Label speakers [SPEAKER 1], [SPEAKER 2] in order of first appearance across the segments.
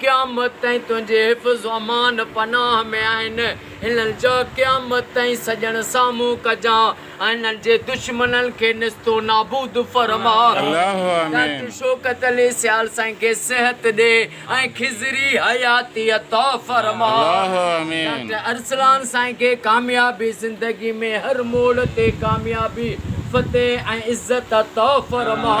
[SPEAKER 1] قيامت تائين تنهنجي حفظ و امان پناهه ۾ آهن. هنن جا قيامت تائين سڄڻ سامهون ڪجان ۽ هنن جي دشمنن کي نست و نابود فرماء. ڊاڪٽر
[SPEAKER 2] شوڪت
[SPEAKER 1] علي سيال سائين کي صحت ڏي ۽ خضري حياتي عطا فرماء. ڊاڪٽر
[SPEAKER 2] ارسلان
[SPEAKER 1] سائين کي ڪاميابي زندگي ۾ هر موڙ تي ڪاميابي، فتح ۽ عزت عطا فرماء.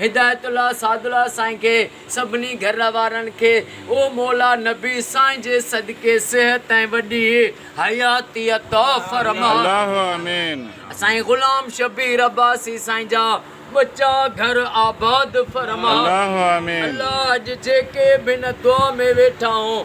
[SPEAKER 1] هدايت الله سعد الله سائين کي سڀني گهر وارن کي او مولا نبي سائين جي صدقي صحت ۽ وڏي حياتي عطا فرما. الله آمين.
[SPEAKER 2] سائين غلام
[SPEAKER 1] شبير عباسي سائين جا ٻچا گهر آباد فرما. الله آمين.
[SPEAKER 2] الله اڄ جيڪي
[SPEAKER 1] به هن دعا ۾ ويٺا آهون.